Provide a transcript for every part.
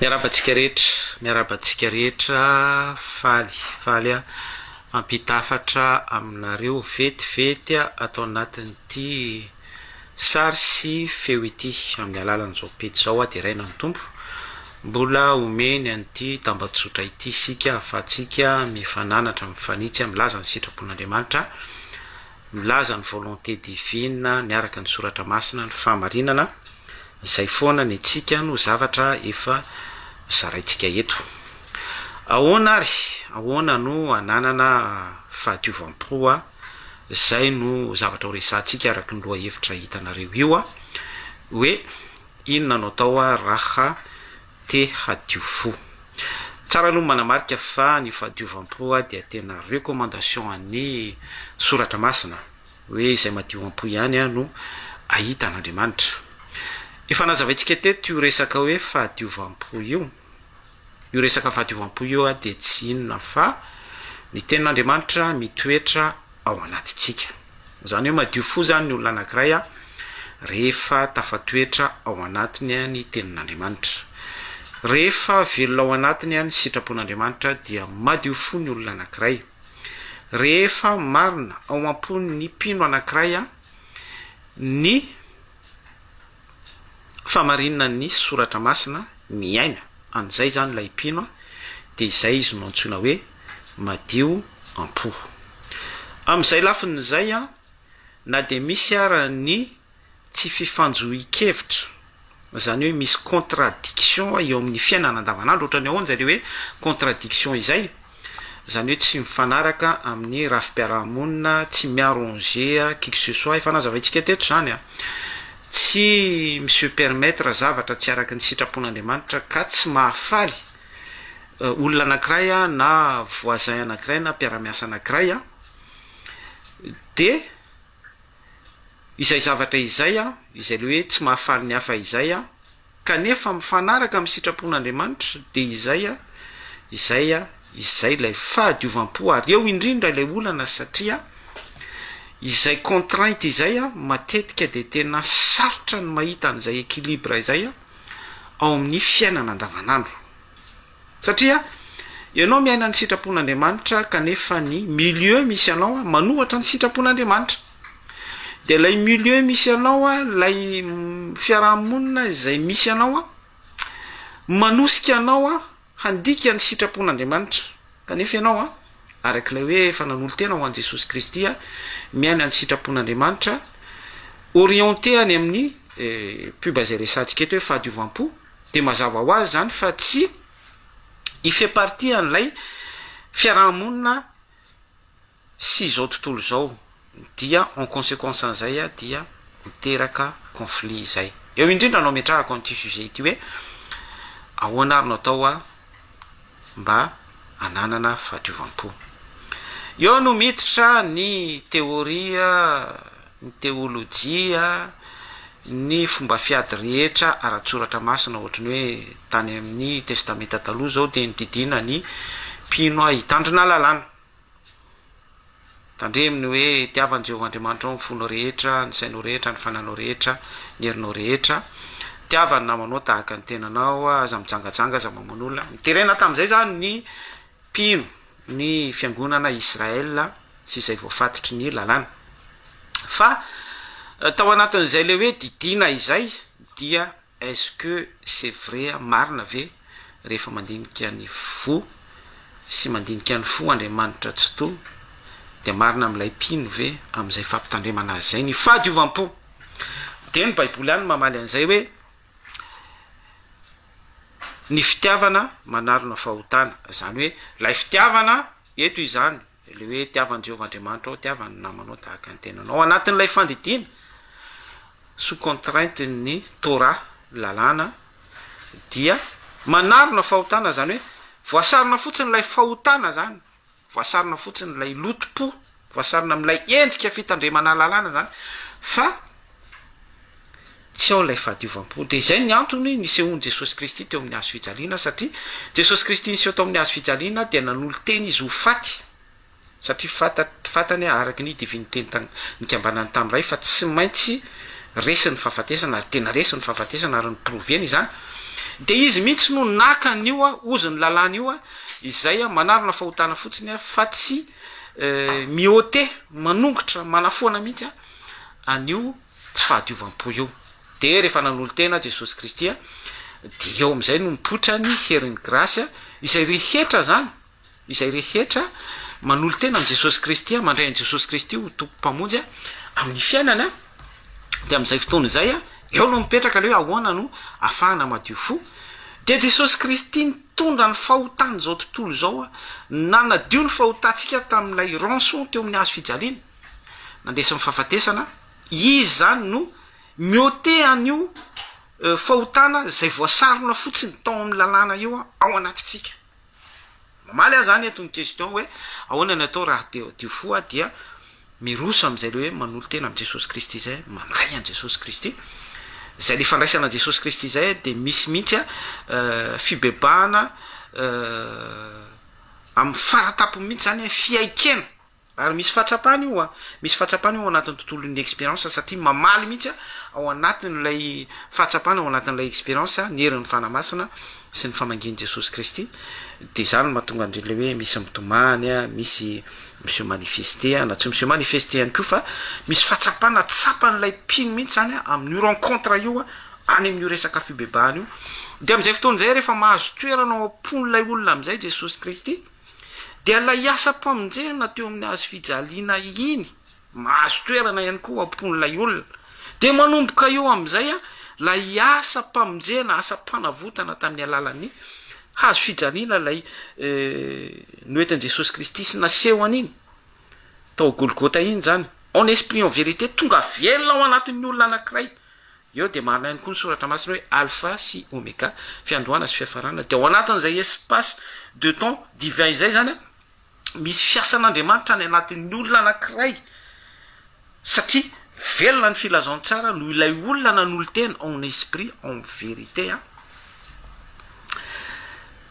Miarahaba antsika rehetra, miarahaba antsika rehetra, faly, faly aho mampita hafatra aminareo vetivety ato anatin'ity sary sy feo ity amin'ny alalan'izao pejy izao aho deraina ny Tompo mbola omeny an'ity tambajotra ity isika ahafahantsika mifananatra, mifanitsy, milaza ny sitrapon'Andriamanitra, milaza ny volonté divine miaraka ny soratra masina, ny fahamarinana. Izay foana ny antsika no zavatra efa zaraintsika eto. Ahoana ary? Ahoana no hananana fahadiovam-po a? Izay no zavatra horesahantsika araka ny lohahevitra hitanareo io a! Hoe inona no atao a raha te hadio fo? Tsara aloha ny manamarika fa ny fahadiovam-po dia tena recommandation an'ny soratra masina. hoe izay madio am-po ihany no ahita an'Andriamanitra. Efa nazavaintsika teto io resaka hoe fahadiovam-po io. Io resaka fahadiovam-po io dia tsy inona fa ny tenin'Andriamanitra mitoetra ao anatintsika. Izany hoe madio fo izany ny olona anankiray rehefa tafatoetra ao anatiny ny tenin'Andriamanitra. Rehefa velona ao anatiny ny sitrapon'Andriamanitra dia madio fo ny olona anankiray. Rehefa marina ao am-pon'ny mpino anankiray ny famarininan'ny Soratra Masina, miaina an'izay izany ilay mpino, dia izay izy no antsoina hoe madio am-po. Amin'izay lafiny izay, na dia misy ara ny tsy fifanjohian-kevitra, izany hoe misy contradiction eo amin'ny fiainana andavanandro, ohatran'ny ahoana izay le hoe contradiction izay? izany hoe tsy mifanaraka amin'ny rafi-piarahamonina, tsy mi-arranger qui que ce soit, efa nazavaintsika teto izany an, tsy mi-se permettre zavatra tsy araka ny sitrapon'Andriamanitra ka tsy mahafaly olona anankiray na voisin anankiray na mpiara-miasa anankiray an, dia. izay zavatra izay izay le hoe tsy mahafaly ny hafa izay kanefa mifanaraka amin'ny sitrapon'Andriamanitra dia izay izay izay ilay fahadiovam-po ary eo indrindra ilay olana satria izay contrainte izay matetika dia tena sarotra ny mahita an'izay équilibre izay ao amin'ny fiainana andavanandro Satria ianao miaina ny sitrapon'Andriamanitra kanefa ny milieu misy anao manohatra ny sitrapon'Andriamanitra. Dia ilay milieu misy anao, ilay fiaraha-monina izay misy anao manosika anao handika ny sitrapon'Andriamanitra. Kanefa ianao araka ilay hoe efa nanolo-tena ho an'i Jesosy Kristy, miaina ny sitrapon'Andriamanitra, orienté any amin'ny pub izay resahantsika eto hoe fahadiovam-po. Dia mazava ho azy izany fa tsy hi fait partie an'ilay fiaraha-monina sy izao tontolo izao, dia en consequence an'izay dia miteraka conflit izay. Eo indrindra no ametrahako an'ity sujet ity hoe ahoana ary no atao mba hananana fahadiovam-po. Eo no miditra ny teoria, ny teolojia, ny fomba fiady rehetra ara-tSoratra Masina, ohatry ny hoe tany amin'ny Testamenta Taloha izao dia nodidiana ny mpino hitandrina lalàna. Tandremo ny hoe itiavan'i Jehovah Andriamanitrao ny fonao rehetra, ny sainao rehetra, ny fananao rehetra, ny herinao rehetra. Itiava ny namanao tahaka ny tenanao, aza mijangajanga, aza mamono olona. Niterena tamin'izay izany ny mpino, ny fiangonana Israel sy izay voafatotry ny lalàna. Fa tao anatin'izay ilay hoe didiana izay dia Est-ce que c'est vrai marina ve rehefa mandinika ny fo sy mandinika ny fo Andriamanitra Tsitoha dia marina amin'ilay mpino ve amin'izay fampitandremana azy izay ny fahadiovam-po? Dia ny baiboly ihany no mamaly an'izay hoe ny fitiavana manarona fahotana, izany hoe ilay fitiavana eto izany, Ilay hoe tiavan'i Jehovah Andriamanitra ao, tiava ny namanao tahaka ny tenanao. Ao anatin'ilay fandidiana, sous contrainte ny Torah, ny lalàna, dia manarona fahotana, izany hoe voasarona fotsiny ilay fahotana izany, voasarona fotsiny ilay lotom-po, voasarona amin'ilay endrika fitandremana lalàna izany, fa Tsy ao ilay fahadiovam-po. Dia izay ny antony nisehoan'i Jesosy Kristy teo amin'ny hazofijaliana, satria Jesosy Kristy niseho tao amin'ny hazofijaliana dia nanolo-tena Izy ho faty, satria fantany hoe araka ny diviniteny tany nikambanany tamin'ny Ray fa tsy maintsy resiny ny fahafatesana, ary tena resiny ny fahafatesana ary noproveny izany. Dia Izy mihitsy no naka an'io ozon'ny lalàna io izay manarona fahotana fotsiny fa tsy mi-ôter, manongotra, manafoana mihitsy. an'io tsy fahadiovam-po io. Dia rehefa nanolo-tena Jesosy Kristy, dia eo amin'izay no mipoitra ny herin'ny grasy, izay rehetra izany, izay rehetra manolo-tena amin'i Jesosy Kristy, mandray an'i Jesosy Kristy ho Tompo Mpamonjy amin'ny fiainana, dia amin'izay fotoana izay, eo no mipetraka ilay hoe ahoana no afahana madio fo. Dia Jesosy Kristy nitondra ny fahotan'izao tontolo izao, nanadio ny fahotantsika tamin'ilay rançon teo amin'ny hazo fijaliana. nandresy ny fahafatesana, izy izany no mi-ôter an'io fahotana izay voasarona fotsiny tao amin'ny lalàna io ao anatintsika. Mamaly ahy izany eto ny question hoe ahoana ny atao raha te hadio fo aho dia miroso amin'izay le hoe manolo-tena amin'i Jesosy Kristy izay, mandray an'i Jesosy Kristy, izay le fandraisana an'i Jesosy Kristy izay dia misy mihitsy fibebahana amin'ny fara-tampony mihitsy izany hoe fiaikena Ary misy fahatsapana io a! Misy fahatsapana io ao anatin'ny tontolon'ny expérience satria mamaly mihitsy a, ao anatin'ilay fahatsapana, ao anatin'ilay expérience ny herin'ny Fanahy Masina sy ny famangian'i Jesosy Kristy, dia izany no mahatonga an'ilay hoe misy mitomany a, misy mi se manifester a, na tsy mi se manifester ihany koa fa misy fahatsapana tsapan'ilay mpino mihitsy izany a, amin'io rencontre io a, any amin'io resaka fibebahana io, dia amin'izay fotoana izay rehefa mahazo toerana ao am-pon'ilay olona amin'izay Jesosy Kristy, Dia ilay asam-pamonjena teo amin'ny hazo fijaliana iny, mahazo toerana ihany koa ao am-pon'ilay olona. Dia manomboka eo amin'izay ilay asam-pamonjena, asam-panavotana tamin'ny alalan'ny hazo fijaliana ilay noentin'i Jesosy Kristy sy nasehony iny, tao Golgota iny izany. En esprit, en vérité, tonga velona ao anatin'ny olona anankiray Eo dia marina ihany koa ny soratra masina hoe Alpha sy Omega, fiandohana sy fiafarana, dia ao anatin'izay espace de temps divin izay izany an, misy fiasan'Andriamanitra any anatin'ny olona anankiray, satria velona ny filazantsara noho ilay olona nanolo-tena en esprit en vérité an,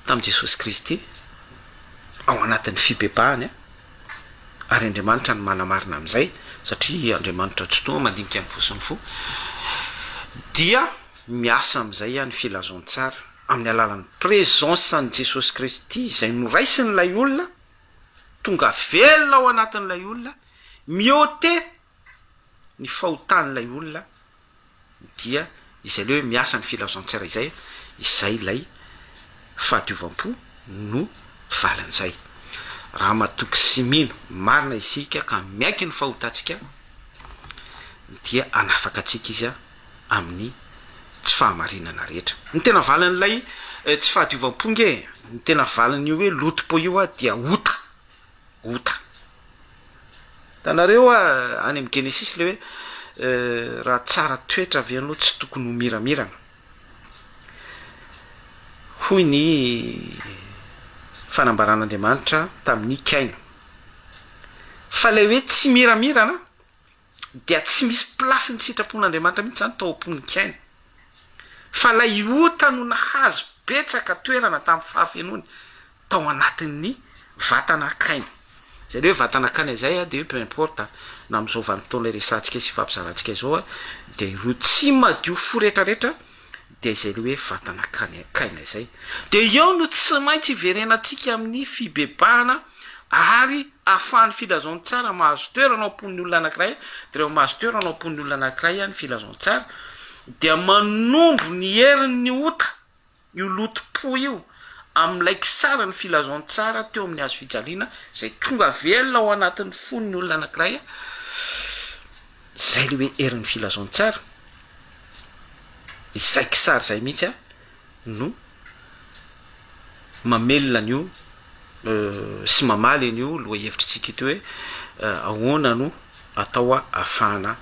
tamin'i Jesosy Kristy, ao anatin'ny fibebahany an, ary Andriamanitra no manamarina amin'izay, satria Andriamanitra tsy toa mandinika ny fo sy ny fo, dia miasa amin'izay ihany ny filazantsara, amin'ny alalan'ny presence an'i Jesosy Kristy izay noraisin'ilay olona, tonga velona ao anatin'ilay olona, mi-ôter ny fahotan'ilay olona, dia izay ilay hoe miasa ny filaozan-tsaina izay, izay ilay fahadiovam-po no valin'izay. Raha matoky sy mino marina isika ka miaiky ny fahotantsika dia hanafaka antsika Izy amin'ny tsy fahamarinana rehetra. Ny tena valin'ilay tsy fahadiovam-po nge, ny tena valin'io hoe loto-po io dia ota, ota. Hitanareo any amin'ny Genesisy ilay hoe raha tsara toetra ve ianao tsy tokony ho miramirana? Hoy ny fanambaran'Andriamanitra tamin'i Kaina. Fa ilay hoe tsy miramirana, dia tsy misy place ny sitrapon'Andriamanitra mihitsy zany tao am-pon'ikaina. Fa ilay ota no nahazo betsaka toerana tamin'ny fahafenoany tao anatin'ny vatana kaina. Zay le hoe vatana kaina zay a de peu importe a, na am'zao vanim-potoana iresahantsika sy ifampizarantsika izao a, de ireo tsy madio fo retraretra dia izay ilay hoe vatana kainakaina izay, dia eo no tsy maintsy hiverenantsika amin'ny fibebahana ary ahafahan'ny filazantsara mahazo toerana ao am-pon'ny olona anankiray, dia rehefa mahazo toerana ao am-pon'ny olona anankiray ny filazantsara dia manondro ny herin'ny ota io lotom-po io amin'ilay kisaran'ny filazantsara teo amin'ny hazofijaliana izay tonga velona ao anatin'ny fon'ny olona anankiray. Zay le hoe herin'ny filazantsara, izay kisary zay mihitsy a no mamelona an'io sy mamaly an'io lohahevitritsika ity hoe ahoana no atao ahafahana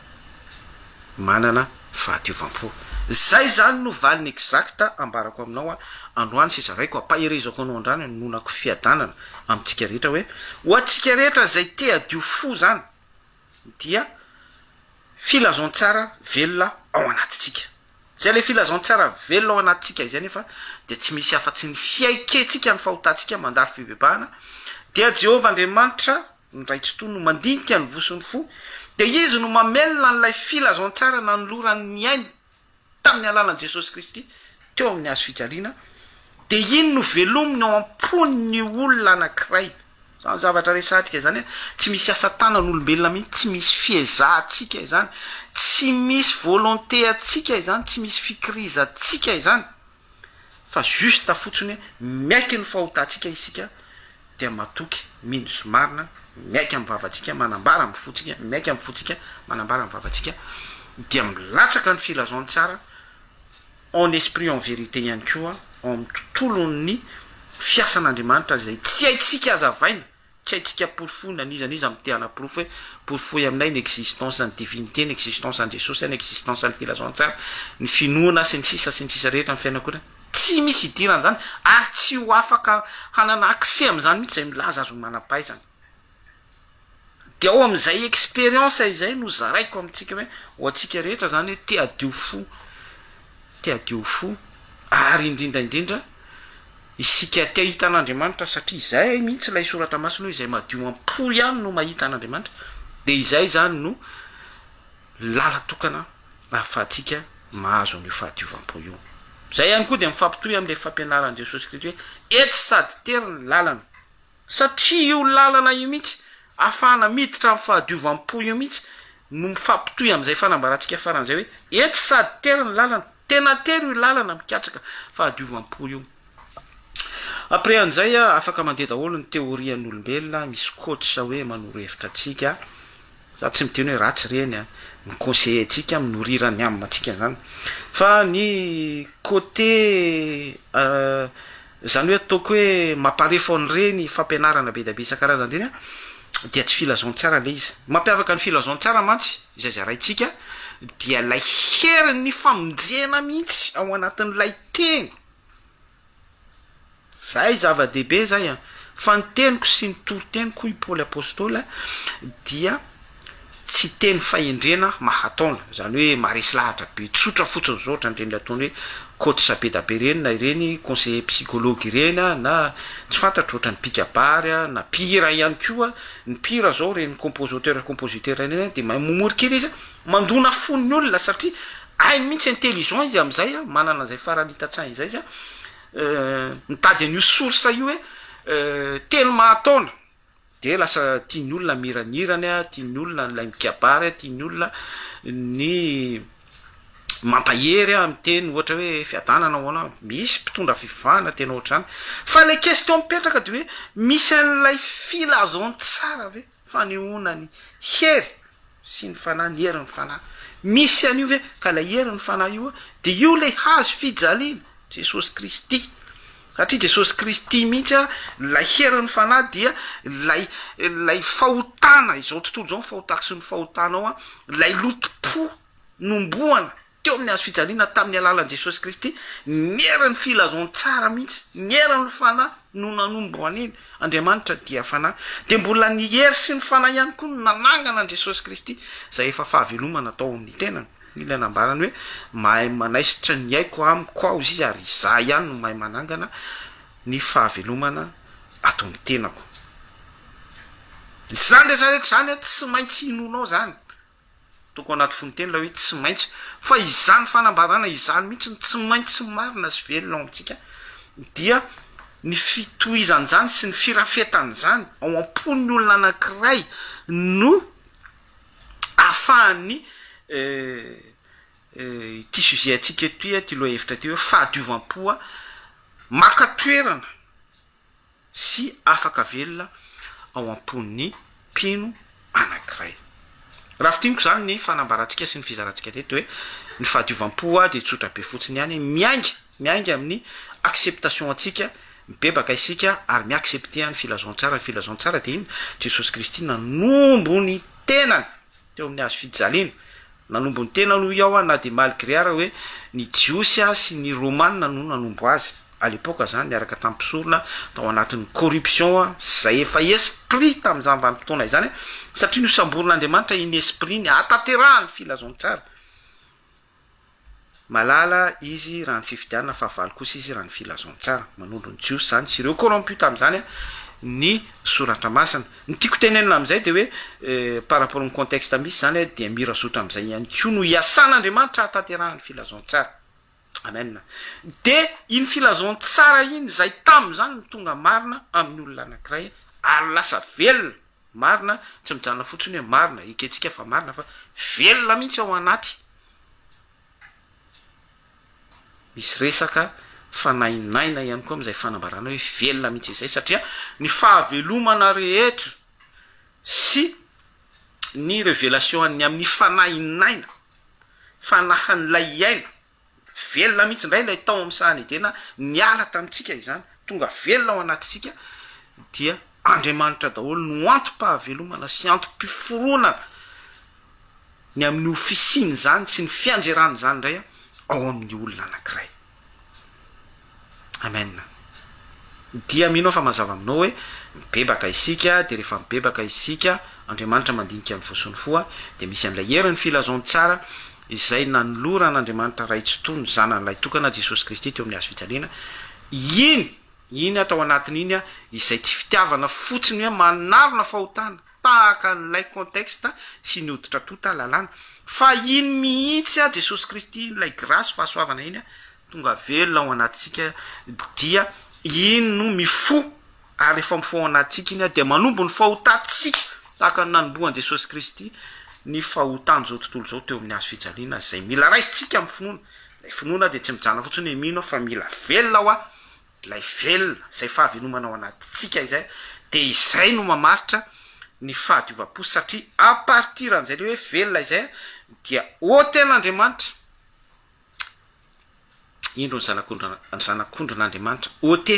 manana fahadiovam-po. Zay zany no valiny exact ambarako aminao androany sy zaraiko ampaherezako anao androany anononako fiadanana amintsika rehetra hoe ho antsika rehetra zay te hadio fo zany, dia filazantsara velona ao anatintsika. Izay ilay filazantsara velona ao anatintsika izay nefa dia tsy misy afa-tsy ny fiaikentsika ny fahotantsika mandalo fibebahana, dia Jehovah Andriamanitra ny Ray Tsitoha no mandinika ny vosin'ny fo, dia Izy no mamelona an'ilay filazantsara nanoloran'ny ainy tamin'ny alalan'i Jesosy Kristy teo amin'ny hazo fijaliana, dia iny no velominy ao am-pony ny olona anankiray. Izany zavatra resahantsika izany hoe tsy misy asa tanan'olombelona mihitsy, tsy misy fiezahantsika izany, tsy misy volonté antsika izany, tsy misy fikirizantsika izany. Fa juste fotsiny hoe miaiky ny fahotantsika isika dia matoky mino sy marina, miaiky amin'ny vavantsika manambara amin'ny fontsika, miaiky amin'ny fontsika manambara amin'ny vavantsika, dia milatsaka ny filazantsara en esprit en vérité ihany koa ao amin'ny tontolon'ny fiasan'Andriamanitra izay tsy haintsika hazavaina. Tsy haintsika porofoina, n'iza n'iza mite hanaporofo hoe porofoy aminay ny existence ny divinité, ny existence an'i Jesosy, ny existence ny filazantsara, ny finoana sy ny sisa sy ny sisa rehetra ny fianakona. Tsy misy hidirana an'izany ary tsy ho afaka hanana accès amin'izany mihitsy izay milaza azy ho manam-pahaizana. Dia ao amin'izay expérience izay no zaraiko amintsika hoe ho antsika rehetra izany hoe te hadio fo. te hadio fo ary indrindra indrindra isika te hahita an'Andriamanitra satria izay mihitsy ilay soratra masina hoe izay madio am-po ihany no mahita an'Andriamanitra dia izay izany no lalan-tokana ahafahantsika mahazo an'io fahadiovam-po io. Izay ihany koa dia mifampitohy amin'ilay fampianaran'i Jesosy Kristy hoe etsy sady tery ny lalana Satria io lalana io mihitsy ahafahana miditra amin'ny fahadiovam-po io mihitsy no mifampitohy amin'izay fanambarantsika faran'izay hoe etsy sady tery ny lalana, tena tery io lalana mikatsaka fahadiovam-po io. Après an'izay afaka mandeha daholo ny teorian'olombelona, misy coach hoe manoro hevitra antsika, za tsy miteny hoe ratsy ireny an, mi-conseiller antsika, minorira ny âme-ntsika izany, fa ny côté. Izany hoe ataoko hoe mamparefo an'ireny fampianarana be dia be isan-karazany ireny aho dia tsy filazantsara ilay izy. Ny mampiavaka ny filazantsara mantsy, izay zaraintsika, dia ilay herin'ny famonjena mihitsy ao anatin'ilay teny. Izay zava-dehibe izay an! Fa ny teniko sy ny toriteniko hoy i Paoly Apostoly dia Tsy teny fahendrena mahataona, izany hoe maharesy lahatra be, tsotra fotsiny izao ohatran'ireny ataony hoe coach be da be ireny na ireny conseiller psychologue ireny na tsy fantatro ohatran'ny mpikabary na mpihira ihany koa, ny mpihira izao ireny composoteur compositeur ireny dia mahay mamory kely izy mandona fon'ny olona satria hainy mihitsy intelligent izy amin'izay manana an'izay farany hita tsainy izay izy mitady an'io source io hoe teny mahataona. Dia lasa tian'ny olona miranirany, tian'ny olona ilay mikabary, tian'ny olona ny mampahery, miteny ohatra hoe fiadanana ahoana, misy mpitondra fivavahana tena ohatr'izany. Fa ilay question mipetraka dia hoe misy an'ilay filazantsara ve fanehoana ny hery? sy ny fanahy, ny herin'ny fanahy. Misy an'io ve? Ka ilay herin'ny fanahy io dia io ilay hazo fijaliana, Jesosy Kristy. Satria Jesosy Kristy mihitsy, ilay herin'ny fanahy dia ilay ilay fahotana izao tontolo izao, ny fahotakso ny fahotanao, ilay lotom-po nomboana teo amin'ny hazo fijaliana tamin'ny alalan'i Jesosy Kristy, ny herin'ny filazantsara mihitsy, ny herin'ny Fanahy no nanombo an'iny, Andriamanitra dia Fanahy, dia mbola ny hery sy ny Fanahy ihany koa no nanangana an'i Jesosy Kristy, izay efa fahavelomana tao amin'ny tenany, ilay nambarany hoe, Mahay manaisotra ny aiko amiko aho izy ary izaho ihany no mahay manangana ny fahavelomana ato amin'ny tenako. Izany rehetra rehetra izany tsy maintsy hinoanao izany, Toko anaty fononteny ilay hoe tsy maintsy. Fa izany fanambarana izany mihitsy no tsy maintsy marina sy velona ao amintsika, dia ny fitohizan'izany sy ny firafetan'izany ao am-pon'ny olona anankiray no ahafahan'ny ity sujet antsika ity, ity lohahevitra ity hoe fahadiovam-po maka toerana. sy afaka velona ao am-pon'ny mpino anankiray. Raha fintiniko izany ny fanambarantsika sy ny fizarantsika teto hoe ny fahadiovam-po dia tsotra be fotsiny ihany, miainga, miainga amin'ny acceptation antsika, mibebaka isika ary mi-accepter ny filazantsara, ny filazantsara dia inona? Jesosy Kristy nanombo ny tenany. teo amin'ny hazo fijaliana, nanombo ny tenany hoy aho na dia malgré ara hoe ny jiosy ary sy ny romana no nanombo azy à l'époque zany niaraka tamin'ny mpisorona tao anatin'ny corruption sy zay efa esprit tamin'izany vanim-potoana izany satria nosamborin'Andriamanitra iny esprit iny hahatanterahan'ny filazantsara Malala izy raha ny fifidianana fa valo kosa izy raha ny filazantsara. Manondro ny Jiosy izany sy ireo corrompus tamin'izany ny soratra masina. Ny tiako tenenina amin'izay dia hoe par rapport ny contexte misy izany dia mira zotra amin'izay ihany koa no iasan'Andriamanitra hahatanterahany ny filazantsara. Amen. Dia iny filazantsara iny izay tamin'izany no tonga marina amin'ny olona anankiray ary lasa velona. Marina, tsy mijanona fotsiny hoe marina, ekentsika fa marina fa velona mihitsy ao anaty. Misy resaka fanainaina ihany koa amin'izay fanambarana hoe velona mihitsy izay satria ny fahavelomana rehetra sy ny revelation an'ny amin'ny fanainaina, fanahin'ilay hiaina Velona mihitsy indray ilay tao amin'ny sahan'i Edena niala tamintsika izany, tonga velona ao anatintsika, dia Andriamanitra daholo no antom-pahavelomana sy antom-piforonana ny amin'ny ho fisian'izany sy ny fianjeran'izany indray ao amin'ny olona anankiray. Amen. Dia mino aho fa mazava aminao hoe mibebaka isika, dia rehefa mibebaka isika, Andriamanitra mandinika ny fo sy ny fo, dia misy an'ilay herin'ny filazantsara izay nanoloran'Andriamanitra Ray tsy toha ny Zanany Lahy Tokana, Jesosy Kristy, teo amin'ny Hazo fijaliana, iny, iny atao anatin'iny izay tsy fitiavana fotsiny hoe manarona fahotana, tahaka an'ilay contexte sy ny hoditra tonta lalàna, fa iny mihitsy Jesosy Kristy iny, ilay grasy, fahasoavana iny, tonga velona ao anatintsika dia iny no mifoha ary rehefa mifoha ao anatintsika iny dia manombo ny fahotantsika tahaka ny nanombohan'i Jesosy Kristy ny fahotan'izao tontolo izao teo amin'ny hazo fijaliana izay mila raisintsika amin'ny finoana, ilay finoana dia tsy mijanona fotsiny hoe mino aho fa mila velona aho an! ilay velona izay fahavelomana ao anatintsika izay dia izay no mamaritra ny fahadiovam-po satria à partir an'izay le hoe velona izay dia ôty an'Andriamanitra Indro ny zanak'ondrin zanak'ondrin'Andriamanitra ot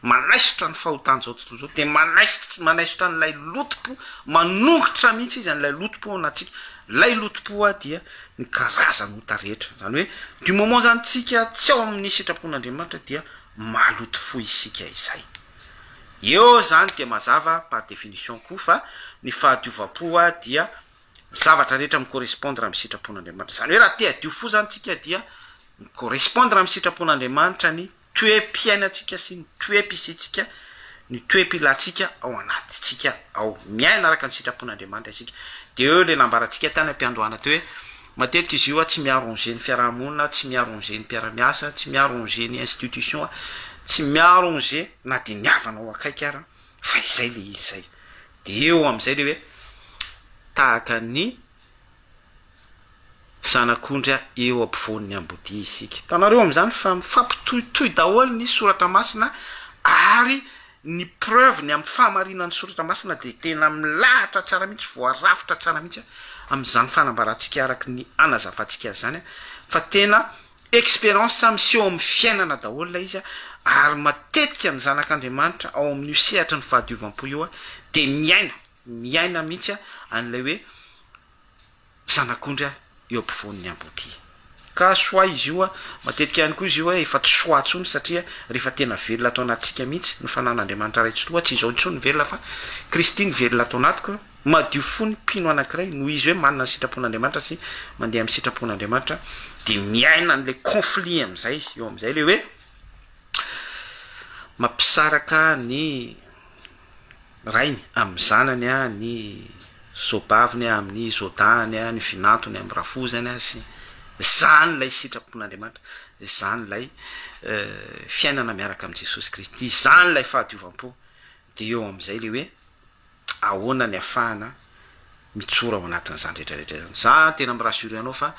manaisotra ny fahotan'izao tontolo izao, dia manaisitr manaisotra an'ilay lotom-po, manongotra mihitsy izy an'ilay lotom-po ao anatintsika, ilay lotom-po hoa dia ny karazan'ota rehetra, izany hoe du moment izany tsika tsy ao amin'ny sitrapon'Andriamanitra dia maloto fo isika izay. Eo izany dia mazava par définition koa fa ny fahadiovam-po hoa dia ny zavatra rehetra mi correspondre amin'ny sitrapon'Andriamanitra. Izany hoe raha te hadio fo izany tsika dia mi correspondre amin'ny sitrapon'Andriamanitra ny toe-piainantsika sy ny toe-pisiantsika, ny toe-pilantsika ao anatintsika ao. Miaina araka ny sitrapon'Andriamanitra isika. Dia eo ilay nambarantsika tany am-piandohana teo hoe matetika izy io tsy mi arranger ny fiaraha-monina, tsy mi arranger ny mpiara-miasa, tsy mi arranger ny institution, tsy mi arranger na dia ny havana ao akaiky ara. fa izay ilay izy izay, dia eo amin'izay ilay hoe tahaka ny zanak'ondry eo ampovoan'ny ambodia isika. Hitanareo amin'izany fa mifampitohitohy daholo ny soratra masina ary ny preuve-ny amin'ny fahamarinan'ny soratra masina dia tena milahatra tsara mihitsy, voarafitra tsara mihitsy amin'izany fanambarantsika araka ny hanazavantsika azy izany fa tena Expérience sa miseho amin'ny fiainana daholo ilay izy ary matetika ny zanak'Andriamanitra ao amin'io sehatry ny fahadiovam-po io dia miaina, miaina mihitsy an'ilay hoe zanak'ondry eo ampovoan'ny amboadia. Ka choix izy io, matetika ihany koa izy io efa tsy choix intsony satria rehefa tena velona ato anatintsika mihitsy ny fanan'Andriamanitra iray tsy loha, tsy izao intsony ny velona fa Kristy no velona ato anatiko, Madio fo ny mpino anankiray noho izy hoe manana ny sitrapon'Andriamanitra sy mandeha amin'ny sitrapon'Andriamanitra dia miaina an'ilay conflit amin'izay izy, eo amin'izay ilay hoe mampisaraka ny rainy amin'ny zanany, ny zobaviny amin'ny zodahany, ny vinantony amin'ny rafozany sy izany ilay sitrapon'Andriamanitra, izany ilay fiainana miaraka amin'i Jesosy Kristy, izany ilay fahadiovam-po, dia eo amin'izay ilay hoe. ahoana ny afahana mijoro ao anatin'izany rehetra rehetra izany. Za tena mi rassurer anao fa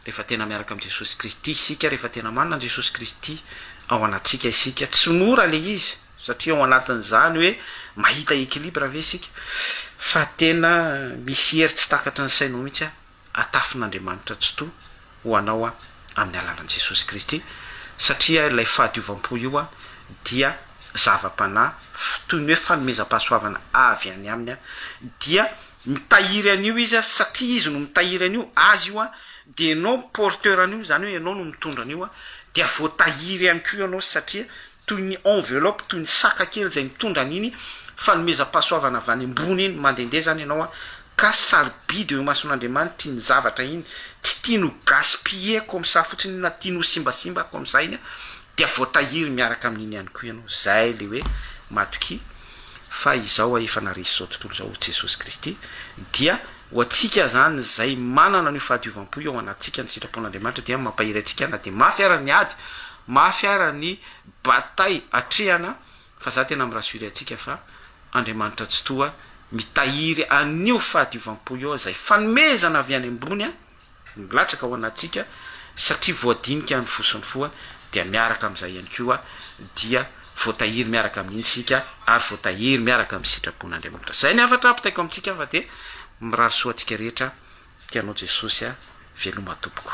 rehefa tena miaraka amin'i Jesosy Kristy isika, rehefa tena manana an'i Jesosy Kristy ao anatsika isika, tsy mora le izy satria ao anatin'izany hoe mahita equilibre ve isika fa tena misy hery tsy takatry ny sainao mihitsy an, atafin'Andriamanitra Tsitoha ho anao aho amin'ny alalan'i Jesosy Kristy, satria ilay fahadiovam-po io dia zava-panahy toy ny hoe fanomezam-pahasoavana avy any Aminy, dia mitahiry an'io Izy, satria Izy no mitahiry an'io, Azy io, dia ianao porteur an'io, izany hoe ianao no mitondra an'io, dia voatahiry ihany koa ianao, satria toy ny enveloppe, toy ny saka kely izay mitondra an'iny fanomezam-pahasoavana avy any ambony iny, mandehandeha izany ianao an, ka sarobidy eo imason'Andriamanitra iny zavatra iny, tsy tiany ho gaspiller comme ça fotsiny io, na tiany ho simbasimba comme ça iny, dia voatahiry miaraka amin'iny ihany koa ianao, izay ilay hoe matokia fa izao aho efa naharesy izao tontolo izao ho Jesosy Kristy, dia ho antsika izany izay manana an'io fahadiovam-po io ao anatintsika ny sitrapon'Andriamanitra dia mampahery antsika na dia mafy ara ny ady, Mafy ara ny bataille atrehana fa za tena mi rassurer antsika fa Andriamanitra Tsitoha mitahiry an'io fahadiovam-po io ao izay fanomezana avy any ambony no milatsaka ao anatintsika satria voadinika ny fo sy ny fo dia miaraka amin'izay ihany koa dia voatahiry miaraka amin'iny isika ary voatahiry miaraka amin'ny sitrapon'Andriamanitra. Izay ny hafatra apitaiko amintsika fa dia mirary soa antsika rehetra tianao Jesosy a, veloma tompoko.